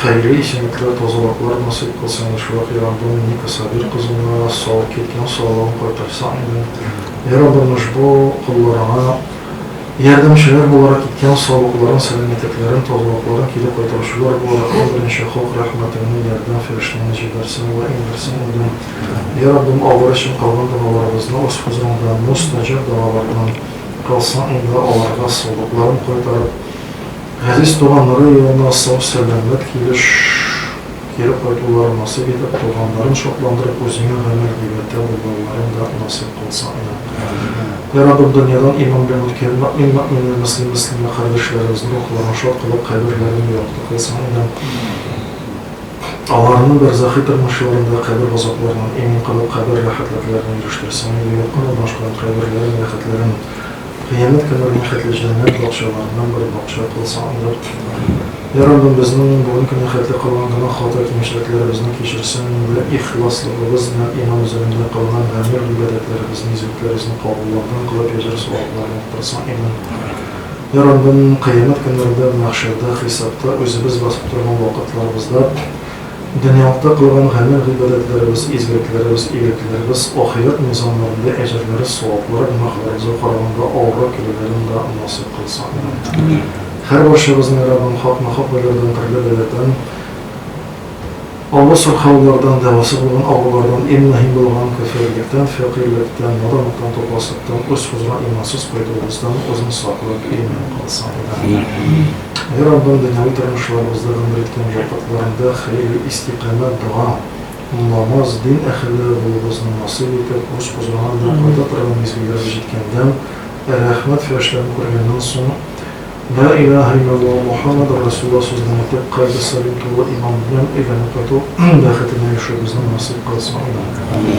Хәерле исемлекле тазалыклар насыйп кылсын Әшвак и Раббым Ника Сабир кызына сау кит ян саулыгын кайтарса иде И Раббым ошбу колларыңа ярдәмчеләр буларак ит ян саулыкларын сәламәтлекләрен тазалыкларын кире кайтаручылар буларак иң беренче хок рәхмәтеңне ярдәм фәрештәңне җибәрсен вә иңдерсен иде И Раббым алар өчен кылган догаларыбызны уз хозурыңда мос таҗаб догалардан кылсаң иде аларга саулыкларын кайтарып Газиз туган Нырый юлына сау-сәламәт килеш кире кайтулары насыйп итеп, туганнарын шатландырып, үзеңә гамәл дивәтә булуларын да насыйп кылсын, Амин. Йә Раббым, дөньядан иман белән үткән мөэмин-мөэминә, мөслим-мөслимә кардәшләребезнең рухларын шат кылып, каберләрен якты кылсын, Амин. Аларны бәрзахи тормыш юлында кабер газапларыннан имин кылып, кабер рәхәтләкләренә ирештерсен, Амин. Якын урнашкан каберләрен, рәхәтләрен. Кыямәт көннәренә хәтле җәннәт бакчаларыннан бер бакча кылсаң, анда утырырлар. Йә, Раббым, безнең менә бүген кенә хәтле кылган гөнаһ, хата, кимчелекләребезне кичерсәң, монда ихласлыгыбыз белән иман үзәгендә кылган гамәл, гыйбадәтләребезне, низагәтләрезне кабулланган кылып, әҗер-савапларын яктыртсаң, иман итәрләр. Йә, Раббым, кыямәт көннәрендә, мәхшәрдә, хисапта, үзебез басып торган вакытларыбызда, Дөньялыкта кылган гамәл-гыйбадәтләребез, изгелекләребез, игелекләребез ахирәт мизаннарында әҗерләре саваплырак, гөнаһлары яза караганда авыррак килүләрен дә насыйп кылсын. Амин. Һәрбарчабызны Раббым хакма-хак уйлардан, төрле бәладән, авыр сырхаулардан, дәвасы булган авырулардан, иң мөһим булган көферлектән, фәкыйрьлектән, наданлыктан, тупаслыктан, үз хозурына имансыз кайтуыбыздан үзен саклап имин кылсын. Амин. Ә Раббым дөньяви тормышларыбызда гомер иткән вакытларында хәерле истикамәт дога аңламас дин әһелләре булуыбызны насыйп итеп, урыс кузгаган да кайта торган мизгелләребез җиткәндән, рәхмәт фәрештәләрен күргәннән соң, Ла илаһә илләллаһ Мухаммадур Расулуллаһ сүзен әйтеп, кальбе салим тулы иман белән өйләнеп кайту бәхетенә ирешүебезне насыйп кылсын, имин.